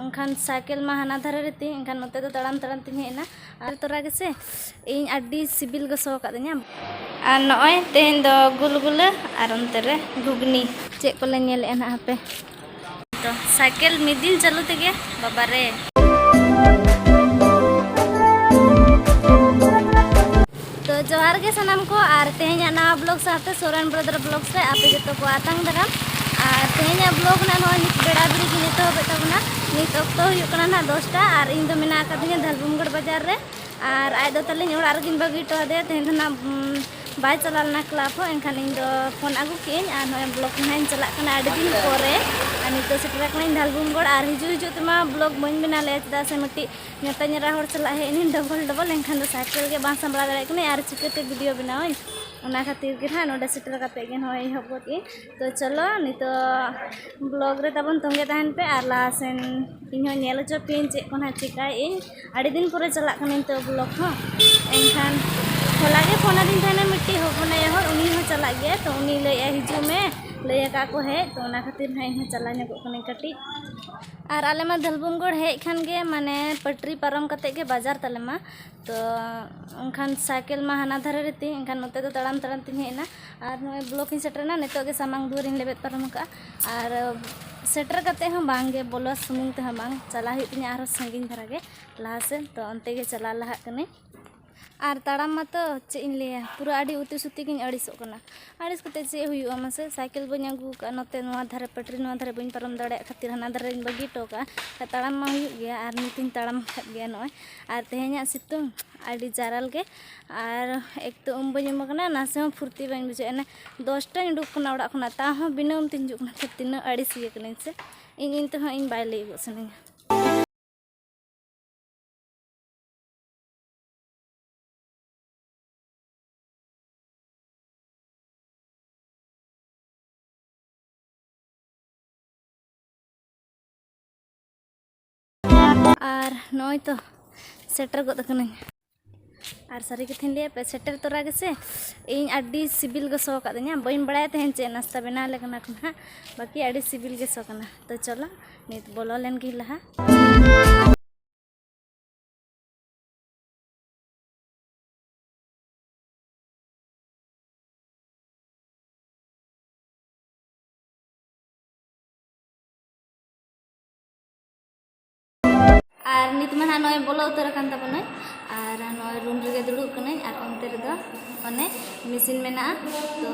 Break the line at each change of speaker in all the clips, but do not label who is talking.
ᱮᱱᱠᱷᱟᱱ ᱥᱟᱭᱠᱮᱞ ᱢᱟ ᱦᱟᱱᱟ ᱫᱷᱟᱨᱮ ᱨᱮ ᱛᱤᱧ ᱮᱱᱠᱷᱟᱱ ᱱᱚᱛᱮ ᱫᱚ ᱛᱟᱲᱟᱢ ᱛᱟᱲᱟᱢ ᱛᱤᱧ ᱦᱮᱡ ᱮᱱᱟ ᱟᱨ ᱛᱚᱨᱟ ᱜᱮᱥᱮ ᱤᱧ ᱟᱹᱰᱤ ᱥᱤᱵᱤᱞ ᱜᱮ ᱥᱚ ᱠᱟᱫᱤᱧᱟ ᱟᱨ ᱱᱚᱜᱼᱚᱭ ᱛᱮᱦᱮᱧ ᱫᱚ ᱜᱩᱞᱜᱩᱞᱟᱹ ᱟᱨ ᱚᱱᱛᱮ ᱨᱮ ᱜᱷᱩᱜᱽᱱᱤ ᱪᱮᱫ ᱠᱚᱞᱮ ᱧᱮᱞᱮᱜᱼᱟ ᱱᱟᱜ ᱦᱟᱯᱮ ᱛᱚ ᱥᱟᱭᱠᱮᱞ ᱢᱤᱫ ᱫᱤᱱ ᱪᱟᱹᱞᱩ ᱛᱮᱜᱮ ᱵᱟᱵᱟᱨᱮ ᱛᱚ ᱡᱚᱦᱟᱨ ᱜᱮ ᱥᱟᱱᱟᱢ ᱠᱚ ᱟᱨ ᱛᱮᱦᱮᱧᱟᱜ ᱱᱟᱣᱟ ᱵᱞᱚᱜ ᱥᱟᱶᱛᱮ ᱥᱚᱨᱮᱱ ᱵᱨᱚᱫᱚᱨ ᱵᱞᱚᱜ ᱨᱮ ᱟᱯᱮ ᱡᱚᱛᱚ ᱠᱚ ᱟᱛᱟᱝ ᱫᱟᱨᱟᱢ ᱟᱨ ᱛᱮᱦᱮᱧᱟᱜ ᱵᱞᱚᱜ ᱱᱟᱜ ᱱᱚᱜᱼᱚᱭ ᱱᱤᱛ ᱵᱮᱲᱟ ᱵᱮᱲᱤ ᱜᱮ ᱮᱛᱚᱦᱚᱵᱮᱫ ᱛᱟᱵᱚᱱᱟ ᱱᱤᱛ ᱚᱠᱛᱚ ᱦᱩᱭᱩᱜ ᱠᱟᱱᱟ ᱱᱟᱜ ᱫᱚᱥᱴᱟ ᱟᱨ ᱤᱧ ᱫᱚ ᱢᱮᱱᱟᱜ ᱟᱠᱟᱫᱤᱧᱟ ᱫᱷᱟᱞᱵᱩᱢᱜᱚᱲ ᱵᱟᱡᱟᱨ ᱨᱮ ᱟᱨ ᱟᱡ ᱫᱚ ᱛᱟᱹᱞᱤᱧ ᱚᱲᱟᱜ ᱨᱮᱜᱤᱧ ᱵᱟᱹᱜᱤ ᱦᱚᱴᱚ ᱟᱫᱮᱭᱟ ᱛᱮᱦᱮᱧ ᱫᱚ ᱱᱟᱜ ᱵᱟᱭ ᱪᱟᱞᱟᱣ ᱞᱮᱱᱟ ᱠᱞᱟᱵᱽ ᱦᱚᱸ ᱮᱱᱠᱷᱟᱱ ᱤᱧ ᱫᱚ ᱯᱷᱳᱱ ᱟᱹᱜᱩ ᱠᱮᱜᱼᱟᱹᱧ ᱟᱨ ᱱᱚᱜᱼᱚᱭ ᱵᱞᱚᱜ ᱱᱟᱜ ᱤᱧ ᱪᱟᱞᱟᱜ ᱠᱟᱱᱟ ᱟᱹᱰᱤ ᱫᱤᱱ ᱯᱚᱨᱮ ᱟᱨ ᱱᱤᱛᱚᱜ ᱥᱮᱴᱮᱨ ᱟᱠᱟᱱᱟᱹᱧ ᱫᱷᱟᱞᱵᱩᱢᱜᱚᱲ ᱟᱨ ᱦᱤᱡᱩᱜ ᱦᱤᱡᱩᱜ ᱛᱮᱢᱟ ᱵᱞᱚᱜ ᱵᱟᱹᱧ ᱵᱮᱱᱟᱣ ᱞᱮᱫᱼᱟ ᱪᱮᱫᱟᱜ ᱥᱮ ᱢᱤᱫᱴᱤᱡ ᱢᱮᱛᱟᱹᱧ ᱮᱨᱟ ᱦᱚᱲ ᱥᱟᱞᱟᱜ ᱦᱮᱡ ᱮᱱᱟᱹᱧ ᱰᱚᱵᱚᱞ ᱰᱚᱵᱚᱞ ᱮᱱᱠᱷᱟᱱ ᱫᱚ ᱥᱟᱭᱠᱮᱞ ᱜᱮ ᱵᱟᱝ ᱥᱟᱢᱵᱲᱟᱣ ᱫᱟᱲᱮᱭᱟᱜ ᱠᱟᱹᱱᱟᱹᱧ ᱟᱨ ᱪᱤᱠᱟᱹᱛᱮ ᱵᱷᱤᱰᱤᱭᱳ ᱵᱮᱱᱟᱣᱟᱹᱧ ᱚᱱᱟ ᱠᱷᱟᱹᱛᱤᱨ ᱜᱮ ᱱᱟᱦᱟᱜ ᱱᱚᱰᱮ ᱥᱮᱴᱮᱨ ᱠᱟᱛᱮᱫ ᱜᱮ ᱱᱚᱜᱼᱚᱭ ᱮᱦᱚᱵ ᱜᱚᱫ ᱟᱹᱧ ᱛᱳ ᱪᱚᱞᱚ ᱱᱤᱛᱚᱜ ᱵᱞᱚᱜᱽ ᱨᱮ ᱛᱟᱵᱚᱱ ᱛᱚᱸᱜᱮ ᱛᱟᱦᱮᱱ ᱯᱮ ᱟᱨ ᱞᱟᱦᱟ ᱥᱮᱱ ᱤᱧ ᱦᱚᱸ ᱧᱮᱞ ᱦᱚᱪᱚ ᱯᱮᱭᱟᱹᱧ ᱪᱮᱫ ᱠᱚ ᱱᱟᱦᱟᱜ ᱪᱤᱠᱟᱹᱭᱮᱫ ᱟᱹᱧ ᱟᱹᱰᱤ ᱫᱤᱱ ᱯᱚᱨᱮ ᱪᱟᱞᱟᱜ ᱠᱟᱹᱱᱟᱹᱧ ᱛᱳ ᱵᱞᱚᱜᱽ ᱦᱚᱸ ᱮᱱᱠᱷᱟᱱ ᱦᱚᱞᱟ ᱜᱮ ᱯᱷᱳᱱ ᱟᱹᱫᱤᱧ ᱛᱟᱦᱮᱱᱟ ᱢᱤᱫᱴᱤᱡ ᱦᱚᱯᱚᱱ ᱟᱭᱳ ᱦᱚᱲ ᱩᱱᱤ ᱦᱚᱸ ᱪᱟᱞᱟᱜ ᱜᱮᱭᱟᱭ ᱛᱳ ᱩᱱᱤ ᱞᱟᱹᱭᱮᱫᱼᱟᱭ ᱦᱤᱡᱩᱜ ᱢᱮ ᱞᱟᱹᱭ ᱟᱠᱟᱫ ᱠᱚ ᱦᱮᱡ ᱛᱳ ᱚᱱᱟ ᱠᱷᱟᱹᱛᱤᱨ ᱱᱟᱦᱟᱜ ᱤᱧ ᱦᱚᱸ ᱪᱟᱞᱟᱣ ᱧᱚᱜᱚᱜ ᱠᱟᱹᱱᱟᱹᱧ ᱠᱟᱹᱴᱤᱡ ᱟᱨ ᱟᱞᱮ ᱢᱟ ᱫᱷᱟᱹᱞᱵᱷᱩᱢᱜᱚᱲ ᱦᱮᱡ ᱠᱷᱟᱱ ᱜᱮ ᱢᱟᱱᱮ ᱯᱟᱹᱴᱨᱤ ᱯᱟᱨᱚᱢ ᱠᱟᱛᱮᱫ ᱜᱮ ᱵᱟᱡᱟᱨ ᱛᱟᱞᱮ ᱢᱟ ᱛᱚ ᱮᱱᱠᱷᱟᱱ ᱥᱟᱭᱠᱮᱞ ᱢᱟ ᱦᱟᱱᱟ ᱫᱷᱟᱨᱮ ᱨᱮ ᱛᱤᱧ ᱮᱱᱠᱷᱟᱱ ᱱᱚᱛᱮ ᱫᱚ ᱛᱟᱲᱟᱢ ᱛᱟᱲᱟᱢ ᱛᱤᱧ ᱦᱮᱡ ᱮᱱᱟ ᱟᱨ ᱱᱚᱜᱼᱚᱭ ᱵᱞᱚᱠ ᱤᱧ ᱥᱮᱴᱮᱨᱮᱱᱟ ᱱᱤᱛᱚᱜ ᱜᱮ ᱥᱟᱢᱟᱝ ᱫᱩᱣᱟᱹᱨ ᱤᱧ ᱞᱮᱵᱮᱫ ᱯᱟᱨᱚᱢ ᱟᱠᱟᱫᱼᱟ ᱟᱨ ᱥᱮᱴᱮᱨ ᱠᱟᱛᱮᱫ ᱦᱚᱸ ᱵᱟᱝ ᱜᱮ ᱵᱚᱞᱚ ᱥᱩᱢᱩᱝ ᱛᱮᱦᱚᱸ ᱵᱟᱝ ᱪᱟᱞᱟᱜ ᱦᱩᱭᱩᱜ ᱛᱤᱧᱟᱹ ᱟᱨᱦᱚᱸ ᱥᱟᱺᱜᱤᱧ ᱫᱷᱟᱨᱟ ᱜᱮ ᱞᱟᱦᱟ ᱥᱮᱫ ᱛᱚ ᱚᱱᱛᱮ ᱜᱮ ᱪᱟᱞᱟᱣ ᱞᱟᱦᱟᱜ ᱠᱟᱹᱱᱟᱹᱧ ᱟᱨ ᱛᱟᱲᱟᱢ ᱢᱟᱛᱚ ᱪᱮᱫ ᱤᱧ ᱞᱟᱹᱭᱟ ᱯᱩᱨᱟᱹ ᱟᱹᱰᱤ ᱩᱛᱤ ᱥᱩᱛᱤ ᱜᱤᱧ ᱟᱹᱲᱤᱥᱚᱜ ᱠᱟᱱᱟ ᱟᱹᱲᱤᱥ ᱠᱟᱛᱮ ᱪᱮᱫ ᱦᱩᱭᱩᱜᱼᱟ ᱢᱟᱥᱮ ᱥᱟᱭᱠᱮᱞ ᱵᱟᱹᱧ ᱟᱹᱜᱩ ᱠᱟᱜᱼᱟ ᱱᱚᱛᱮ ᱱᱚᱣᱟ ᱫᱷᱟᱨᱮ ᱯᱟᱹᱴᱨᱤ ᱱᱚᱣᱟ ᱫᱷᱟᱨᱮ ᱵᱟᱹᱧ ᱯᱟᱨᱚᱢ ᱫᱟᱲᱮᱭᱟᱜ ᱠᱷᱟᱹᱛᱤᱨ ᱦᱟᱱᱟ ᱫᱷᱟᱨᱮᱧ ᱵᱟᱹᱜᱤ ᱦᱚᱴᱚ ᱠᱟᱜᱼᱟ ᱛᱟᱲᱟᱢ ᱢᱟ ᱦᱩᱭᱩᱜ ᱜᱮᱭᱟ ᱟᱨ ᱱᱤᱛᱤᱧ ᱛᱟᱲᱟᱢ ᱟᱠᱟᱫ ᱜᱮᱭᱟ ᱱᱚᱜᱼᱚᱭ ᱟᱨ ᱛᱮᱦᱮᱧᱟᱜ ᱥᱤᱛᱩᱝ ᱟᱹᱰᱤ ᱡᱟᱨᱟᱞ ᱜᱮ ᱟᱨ ᱮᱠ ᱛᱚ ᱩᱢ ᱵᱟᱹᱧ ᱩᱢ ᱠᱟᱱᱟ ᱱᱟᱥᱮ ᱦᱚᱸ ᱯᱷᱩᱨᱛᱤ ᱵᱟᱹᱧ ᱵᱩᱡᱷᱟᱹᱣᱮᱫᱼᱟ ᱚᱱᱮ ᱫᱚᱥᱴᱟᱧ ᱩᱰᱩᱠ ᱠᱟᱱᱟ ᱚᱲᱟᱜ ᱠᱷᱚᱱᱟᱜ ᱛᱟᱣ ᱦᱚᱸ ᱵᱤᱱᱟᱹ ᱩᱢ ᱛᱤᱧ ᱦᱤᱡᱩᱜ ᱠᱟᱱᱟ ᱛᱤᱱᱟᱹᱜ ᱟᱹᱲᱤᱥ ᱜᱮ ᱠᱟᱹᱱᱟᱹᱧ ᱥᱮ ᱤᱧ ᱤᱧ ᱛᱮᱦᱚᱸ ᱤᱧ ᱵᱟᱭ ᱞᱟᱹᱭ ᱜᱚᱫ ᱥᱟᱱᱟᱧᱟ ᱟᱨ ᱱᱚᱜᱼᱚᱭ ᱛᱚ ᱥᱮᱴᱮᱨ ᱜᱚᱫ ᱟᱠᱟᱱᱟᱹᱧ ᱟᱨ ᱥᱟᱹᱨᱤ ᱠᱟᱛᱷᱟᱧ ᱞᱟᱹᱭᱟ ᱯᱮ ᱥᱮᱴᱮᱨ ᱛᱚᱨᱟ ᱜᱮᱥᱮ ᱤᱧ ᱟᱹᱰᱤ ᱥᱤᱵᱤᱞ ᱜᱮ ᱥᱚ ᱠᱟᱫᱤᱧᱟ ᱵᱟᱹᱧ ᱵᱟᱲᱟᱭᱟ ᱛᱟᱦᱮᱱ ᱪᱮᱫ ᱱᱟᱥᱛᱟ ᱵᱮᱱᱟᱣ ᱞᱮ ᱠᱟᱱᱟ ᱠᱚ ᱱᱟᱦᱟᱜ ᱵᱟᱹᱠᱤ ᱟᱹᱰᱤ ᱥᱤᱵᱤᱞ ᱜᱮ ᱥᱚ ᱠᱟᱱᱟ ᱛᱚ ᱪᱚᱞᱚ ᱱᱤᱛ ᱵᱚᱞᱚ ᱞᱮᱱ ᱜᱮ ᱞᱟᱦᱟ ᱟᱨ ᱱᱤᱛ ᱢᱟ ᱱᱟᱦᱟᱜ ᱱᱚᱜᱼᱚᱭ ᱵᱚᱞᱚ ᱩᱛᱟᱹᱨ ᱟᱠᱟᱱ ᱛᱟᱵᱚᱱᱟᱹᱧ ᱟᱨ ᱱᱚᱜᱼᱚᱭ ᱨᱩᱢ ᱨᱮᱜᱮ ᱫᱩᱲᱩᱵ ᱠᱟᱹᱱᱟᱹᱧ ᱟᱨ ᱚᱱᱛᱮ ᱨᱮᱫᱚ ᱚᱱᱮ ᱢᱮᱥᱤᱱ ᱢᱮᱱᱟᱜᱼᱟ ᱛᱚ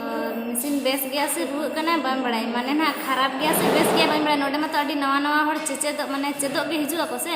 ᱢᱮᱥᱤᱱ ᱵᱮᱥ ᱜᱮᱭᱟ ᱥᱮ ᱨᱩᱣᱟᱹᱜ ᱠᱟᱱᱟ ᱵᱟᱝ ᱵᱟᱲᱟᱭ ᱢᱟᱱᱮ ᱱᱟᱦᱟᱜ ᱠᱷᱟᱨᱟᱯ ᱜᱮᱭᱟ ᱥᱮ ᱵᱮᱥ ᱜᱮᱭᱟ ᱵᱟᱹᱧ ᱵᱟᱲᱟᱭ ᱱᱚᱰᱮ ᱢᱟᱛᱚ ᱟᱹᱰᱤ ᱱᱟᱣᱟ ᱱᱟᱣᱟ ᱦᱚᱲ ᱪᱮᱪᱮᱫᱚᱜ ᱢᱟᱱᱮ ᱪᱮᱫᱚᱜ ᱜᱮ ᱦᱤᱡᱩᱜ ᱟᱠᱚ ᱥᱮ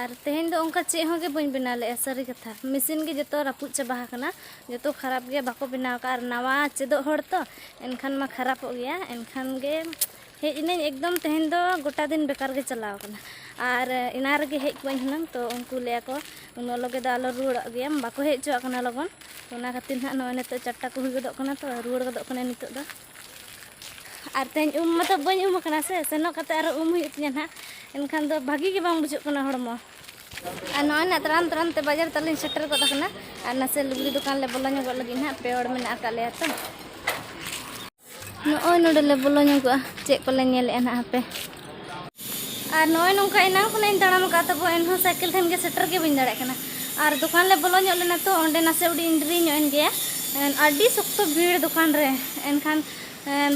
ᱟᱨ ᱛᱮᱦᱮᱧ ᱫᱚ ᱚᱱᱠᱟ ᱪᱮᱫ ᱦᱚᱸᱜᱮ ᱵᱟᱹᱧ ᱵᱮᱱᱟᱣ ᱞᱮᱫᱼᱟ ᱥᱟᱹᱨᱤ ᱠᱟᱛᱷᱟ ᱢᱮᱥᱤᱱ ᱜᱮ ᱡᱚᱛᱚ ᱨᱟᱹᱯᱩᱫ ᱪᱟᱵᱟ ᱟᱠᱟᱱᱟ ᱡᱚᱛᱚ ᱠᱷᱟᱨᱟᱯ ᱜᱮᱭᱟ ᱵᱟᱠᱚ ᱵᱮᱱᱟᱣ ᱟᱠᱟᱫᱼᱟ ᱟᱨ ᱱᱟᱣᱟ ᱪᱮᱫᱚᱜ ᱦᱚᱲ ᱛᱚ ᱮᱱᱠᱷᱟᱱ ᱢᱟ ᱠᱷᱟᱨᱟᱯᱚᱜ ᱜᱮᱭᱟ ᱮᱱᱠᱷᱟᱱ ᱜᱮ ᱦᱮᱡ ᱮᱱᱟᱹᱧ ᱮᱠᱫᱚᱢ ᱛᱮᱦᱮᱧ ᱫᱚ ᱜᱚᱴᱟ ᱫᱤᱱ ᱵᱮᱠᱟᱨ ᱜᱮ ᱪᱟᱞᱟᱣ ᱟᱠᱟᱱᱟ ᱟᱨ ᱮᱱᱟᱝ ᱨᱮᱜᱮ ᱦᱮᱡ ᱠᱚᱜ ᱟᱹᱧ ᱦᱩᱱᱟᱹᱝ ᱛᱚ ᱩᱱᱠᱩ ᱞᱟᱹᱭ ᱟᱠᱚ ᱩᱱᱟᱹᱜ ᱞᱚᱜᱮ ᱫᱚ ᱟᱞᱚ ᱨᱩᱣᱟᱹᱲᱚᱜ ᱜᱮᱭᱟᱢ ᱵᱟᱠᱚ ᱦᱮᱡ ᱦᱚᱪᱚᱣᱟᱜ ᱠᱟᱱᱟ ᱞᱚᱜᱚᱱ ᱚᱱᱟ ᱠᱷᱟᱹᱛᱤᱨ ᱱᱟᱦᱟᱜ ᱱᱚᱜᱼᱚᱭ ᱱᱤᱛᱚᱜ ᱪᱟᱨᱴᱟ ᱠᱚ ᱦᱩᱭ ᱜᱚᱫᱚᱜ ᱠᱟᱱᱟ ᱛᱚ ᱨᱩᱣᱟᱹᱲ ᱜᱚᱫᱚᱜ ᱠᱟᱹᱱᱟᱹᱧ ᱱᱤᱛᱚᱜ ᱫᱚ ᱟᱨ ᱛᱮᱦᱮᱧ ᱩᱢ ᱢᱟᱛᱚ ᱵᱟᱹᱧ ᱩᱢ ᱟᱠᱟᱱᱟ ᱥᱮ ᱥᱮᱱᱚᱜ ᱠᱟᱛᱮ ᱟᱨᱚ ᱩᱢ ᱦᱩᱭᱩᱜ ᱛᱤᱧᱟᱹ ᱱᱟᱦᱟᱜ ᱮᱱᱠᱷᱟᱱ ᱫᱚ ᱵᱷᱟᱹᱜᱤ ᱜᱮ ᱵᱟᱝ ᱵᱩᱡᱷᱟᱹᱜ ᱠᱟᱱᱟ ᱦᱚᱲᱢᱚ ᱟᱨ ᱱᱚᱜᱼᱚᱭ ᱱᱟᱜ ᱛᱟᱲᱟᱢ ᱛᱟᱲᱟᱢ ᱛᱮ ᱵᱟᱡᱟᱨ ᱛᱟᱞᱤᱧ ᱥᱮᱴᱮᱨ ᱜᱚᱫ ᱟᱠᱟᱱᱟ ᱟᱨ ᱱᱟᱥᱮ ᱞᱩᱜᱽᱲᱤ ᱫᱚᱠᱟᱱ ᱞᱮ ᱵᱚᱞᱚ ᱧᱚᱜᱚᱜ ᱞᱟᱹᱜᱤᱫ ᱱᱟᱦᱟᱜ ᱯᱮ ᱦᱚᱲ ᱢᱮᱱᱟᱜ ᱟᱠᱟᱫ ᱞᱮᱭᱟ ᱛᱚ ᱱᱚᱜᱼᱚᱭ ᱱᱚᱰᱮ ᱞᱮ ᱵᱚᱞᱚ ᱧᱚᱜᱚᱜᱼᱟ ᱪᱮᱫ ᱠᱚᱞᱮ ᱧᱮᱞᱮᱫᱼᱟ ᱱᱟᱦᱟᱜ ᱦᱟᱯᱮ ᱟᱨ ᱱᱚᱜᱼᱚᱭ ᱱᱚᱝᱠᱟ ᱮᱱᱟᱝ ᱠᱷᱚᱱᱟᱜ ᱤᱧ ᱛᱟᱲᱟᱢ ᱟᱠᱟᱫ ᱛᱟᱵᱚ ᱮᱱᱦᱚᱸ ᱥᱟᱭᱠᱮᱞ ᱴᱷᱮᱱ ᱜᱮ ᱥᱮᱴᱮᱨ ᱜᱮ ᱵᱟᱹᱧ ᱫᱟᱲᱮᱭᱟᱜ ᱠᱟᱱᱟ ᱟᱨ ᱫᱚᱠᱟᱱ ᱞᱮ ᱵᱚᱞᱚ ᱧᱚᱜ ᱞᱮᱱᱟ ᱛᱚ ᱚᱸᱰᱮ ᱱᱟᱥᱮ ᱩᱰᱤᱧ ᱰᱮᱨᱤ ᱧᱚᱜ ᱮᱱ ᱜᱮᱭᱟ ᱟᱹᱰᱤ ᱥᱚᱠᱛᱚ ᱵᱷᱤᱲ ᱫᱚᱠᱟᱱ ᱨᱮ ᱮᱱᱠᱷᱟᱱ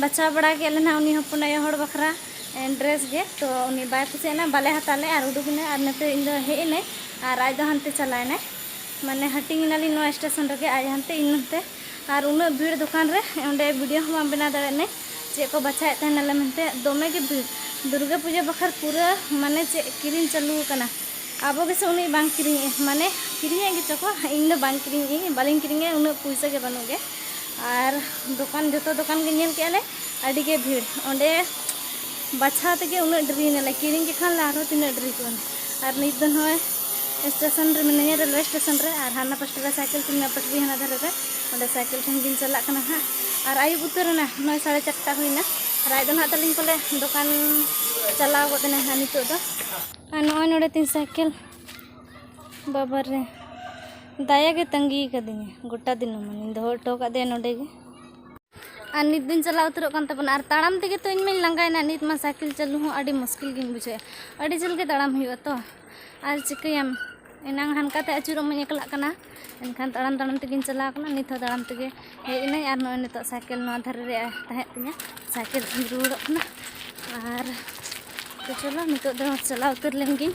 ᱵᱟᱪᱷᱟᱣ ᱵᱟᱲᱟ ᱠᱮᱫ ᱞᱮ ᱱᱟᱦᱟᱜ ᱩᱱᱤ ᱦᱚᱯᱚᱱ ᱟᱭᱳ ᱦᱚᱲ ᱵᱟᱠᱷᱨᱟ ᱰᱨᱮᱥ ᱜᱮ ᱛᱚ ᱩᱱᱤ ᱵᱟᱭ ᱠᱩᱥᱤᱭᱟᱜ ᱱᱟ ᱵᱟᱞᱮ ᱦᱟᱛᱟᱣ ᱞᱮ ᱟᱨ ᱩᱰᱩᱠ ᱮᱱᱟᱭ ᱟᱨ ᱱᱚᱛᱮ ᱤᱧ ᱫᱚ ᱦᱮᱡ ᱮᱱᱟᱹᱧ ᱟᱨ ᱟᱡ ᱫᱚ ᱦᱟᱱᱛᱮ ᱪᱟᱞᱟᱣ ᱮᱱᱟᱭ ᱢᱟᱱᱮ ᱦᱟᱹᱴᱤᱧ ᱮᱱᱟᱞᱤᱧ ᱱᱚᱣᱟ ᱥᱴᱮᱥᱚᱱ ᱨᱮᱜᱮ ᱟᱡ ᱦᱟᱱᱛᱮ ᱤᱧ ᱱᱚᱛᱮ ᱟᱨ ᱩᱱᱟᱹᱜ ᱵᱷᱤᱲ ᱫᱚᱠᱟᱱ ᱨᱮ ᱚᱸᱰᱮ ᱵᱷᱤᱰᱤᱭᱳ ᱦᱚᱸ ᱵᱟᱝ ᱵᱮᱱᱟᱣ ᱫᱟᱲᱮᱭᱟᱜ ᱢᱮ ᱪᱮᱫ ᱠᱚ ᱵᱟᱪᱷᱟᱣᱮᱫ ᱛᱟᱦᱮᱱᱟᱞᱮ ᱢᱮᱱᱛᱮ ᱫᱚᱢᱮ ᱜᱮ ᱵᱷᱤᱲ ᱫᱩᱨᱜᱟᱹ ᱯᱩᱡᱟᱹ ᱵᱟᱠᱷᱨᱟ ᱯᱩᱨᱟᱹ ᱢᱟᱱᱮ ᱪᱮᱫ ᱠᱤᱨᱤᱧ ᱪᱟᱹᱞᱩ ᱟᱠᱟᱱᱟ ᱟᱵᱚ ᱜᱮᱥᱮ ᱩᱱᱤ ᱵᱟᱝ ᱠᱤᱨᱤᱧᱮ ᱢᱟᱱᱮ ᱠᱤᱨᱤᱧᱮᱫ ᱜᱮᱪᱚ ᱠᱚ ᱤᱧ ᱫᱚ ᱵᱟᱝ ᱠᱤᱨᱤᱧᱮ ᱵᱟᱹᱞᱤᱧ ᱠᱤᱨᱤᱧᱮ ᱩᱱᱟᱹᱜ ᱯᱩᱭᱥᱟᱹ ᱜᱮ ᱵᱟᱹᱱᱩᱜ ᱜᱮ ᱟᱨ ᱫᱚᱠᱟᱱ ᱡᱚᱛᱚ ᱫᱚᱠᱟᱱ ᱜᱮ ᱧᱮᱞ ᱠᱮᱫᱼᱟ ᱞᱮ ᱟᱹᱰᱤ ᱜᱮ ᱵᱷᱤᱲ ᱚᱸᱰᱮ ᱵᱟᱪᱷᱟᱣ ᱛᱮᱜᱮ ᱩᱱᱟᱹᱜ ᱰᱮᱨᱤᱭᱮᱱᱟᱞᱮ ᱠᱤᱨᱤᱧ ᱠᱮᱫ ᱠᱷᱟᱱ ᱞᱮ ᱟᱨᱦᱚᱸ ᱛᱤᱱᱟᱹᱜ ᱰᱮᱨᱤ ᱠᱚᱜᱼᱟ ᱟᱨ ᱱᱤᱛ ᱫᱚ ᱱᱚᱜᱼᱚᱭ ᱥᱴᱮᱥᱚᱱ ᱨᱮ ᱢᱤᱱᱟᱹᱧᱟ ᱨᱮᱞᱣᱮ ᱥᱴᱮᱥᱚᱱ ᱨᱮ ᱟᱨ ᱦᱟᱱᱟ ᱯᱟᱥᱴᱟ ᱨᱮ ᱥᱟᱭᱠᱮᱞ ᱛᱤᱧ ᱱᱚᱣᱟ ᱯᱟᱥᱴᱟ ᱨᱮ ᱦᱟᱱᱟ ᱫᱷᱟᱨᱮ ᱨᱮ ᱚᱸᱰᱮ ᱥᱟᱭᱠᱮᱞ ᱴᱷᱮᱱ ᱜᱤᱧ ᱪᱟᱞᱟᱜ ᱠᱟᱱᱟ ᱦᱟᱸᱜ ᱟᱨ ᱟᱹᱭᱩᱵ ᱩᱛᱟᱹᱨ ᱮᱱᱟ ᱱᱚᱜᱼᱚᱭ ᱥᱟᱲᱮ ᱪᱟᱨᱴᱟ ᱦᱩᱭᱱᱟ ᱟᱨ ᱟᱡ ᱫᱚ ᱱᱟᱦᱟᱜ ᱛᱟᱹᱞᱤᱧ ᱯᱟᱞᱮ ᱫᱚᱠᱟᱱ ᱪᱟᱞᱟᱣ ᱜᱚᱫ ᱮᱱᱟᱭ ᱦᱟᱸᱜ ᱱᱤᱛᱚᱜ ᱫᱚ ᱟᱨ ᱱᱚᱜᱼᱚᱭ ᱱᱚᱰᱮ ᱛᱤᱧ ᱥᱟᱭᱠᱮᱞ ᱵᱟᱵᱟ ᱨᱮ ᱫᱟᱭᱟ ᱜᱮ ᱛᱟᱺᱜᱤ ᱟᱠᱟᱫᱤᱧᱟ ᱜᱚᱴᱟ ᱫᱤᱱᱟᱹᱢᱟᱱ ᱫᱚᱦᱚ ᱦᱚᱴᱚ ᱟᱠᱟᱫᱮᱭᱟ ᱱᱚᱰᱮ ᱜᱮ ᱟᱨ ᱱᱤᱛ ᱫᱚᱧ ᱪᱟᱞᱟᱣ ᱩᱛᱟᱹᱨᱚᱜ ᱠᱟᱱ ᱛᱟᱵᱚᱱᱟ ᱟᱨ ᱛᱟᱲᱟᱢ ᱛᱮᱜᱮ ᱛᱚ ᱤᱧ ᱢᱟᱧ ᱞᱟᱸᱜᱟᱭᱮᱱᱟ ᱱᱤᱛ ᱢᱟ ᱥᱟᱭᱠᱮᱞ ᱪᱟᱹᱞᱩ ᱦᱚᱸ ᱟᱹᱰᱤ ᱢᱩᱥᱠᱤᱞ ᱜᱤᱧ ᱵᱩᱡᱷᱟᱹᱣᱮᱫᱼᱟ ᱟᱹᱰᱤ ᱡᱷᱟᱹᱞ ᱜᱮ ᱛᱟᱲᱟᱢ ᱦᱩᱭᱩᱜᱼᱟ ᱛᱚ ᱟᱨ ᱪᱤᱠᱟᱹᱭᱟᱢ ᱮᱱᱟᱝ ᱦᱟᱱᱠᱟᱛᱮ ᱟᱹᱪᱩᱨᱚᱜ ᱢᱟᱧ ᱮᱠᱞᱟᱜ ᱠᱟᱱᱟ ᱮᱱᱠᱷᱟᱱ ᱛᱟᱲᱟᱢ ᱛᱟᱲᱟᱢ ᱛᱮᱜᱮᱧ ᱪᱟᱞᱟᱣ ᱠᱟᱱᱟ ᱱᱤᱛ ᱦᱚᱸ ᱛᱟᱲᱟᱢ ᱛᱮᱜᱮ ᱦᱮᱡ ᱮᱱᱟᱹᱧ ᱟᱨ ᱱᱚᱜᱼᱚᱭ ᱱᱤᱛᱚᱜ ᱥᱟᱭᱠᱮᱞ ᱱᱚᱣᱟ ᱫᱷᱟᱨᱮ ᱨᱮ ᱛᱟᱦᱮᱸ ᱛᱤᱧᱟᱹ ᱥᱟᱭᱠᱮᱞ ᱛᱮᱧ ᱨᱩᱣᱟᱹᱲᱚᱜ ᱠᱟᱱᱟ ᱟᱨ ᱛᱚ ᱪᱚᱞᱚ ᱱᱤᱛᱚᱜ ᱫᱚ ᱪᱟᱞᱟᱣ ᱩᱛᱟᱹᱨ ᱞᱮᱱ ᱜᱤᱧ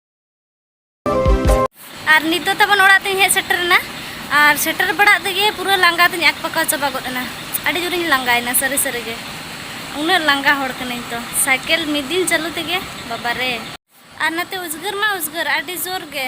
ᱟᱨ ᱱᱤᱛ ᱫᱚ ᱛᱟᱵᱚᱱ ᱚᱲᱟᱜ ᱛᱮᱧ ᱦᱮᱡ ᱥᱮᱴᱮᱨᱮᱱᱟ ᱟᱨ ᱥᱮᱴᱮᱨ ᱵᱟᱲᱟᱜ ᱛᱮᱜᱮ ᱯᱩᱨᱟᱹ ᱞᱟᱸᱜᱟ ᱛᱤᱧ ᱟᱠᱯᱟᱠᱟᱣ ᱪᱟᱵᱟ ᱜᱚᱫ ᱮᱱᱟ ᱟᱹᱰᱤ ᱡᱳᱨᱤᱧ ᱞᱟᱸᱜᱟᱭᱮᱱᱟ ᱥᱟᱹᱨᱤ ᱥᱟᱹᱨᱤ ᱜᱮ ᱩᱱᱟᱹᱜ ᱞᱟᱸᱜᱟ ᱦᱚᱲ ᱠᱟᱹᱱᱟᱹᱧ ᱛᱚ ᱥᱟᱭᱠᱮᱞ ᱢᱤᱫ ᱫᱤᱱ ᱪᱟᱹᱞᱩ ᱛᱮᱜᱮ ᱵᱟᱵᱟ ᱨᱮ ᱟᱨ ᱱᱟᱛᱮ ᱩᱡᱽᱜᱟᱹᱨ ᱢᱟ ᱩᱡᱽᱜᱟᱹᱨ ᱟᱹᱰᱤ ᱡᱳᱨ ᱜᱮ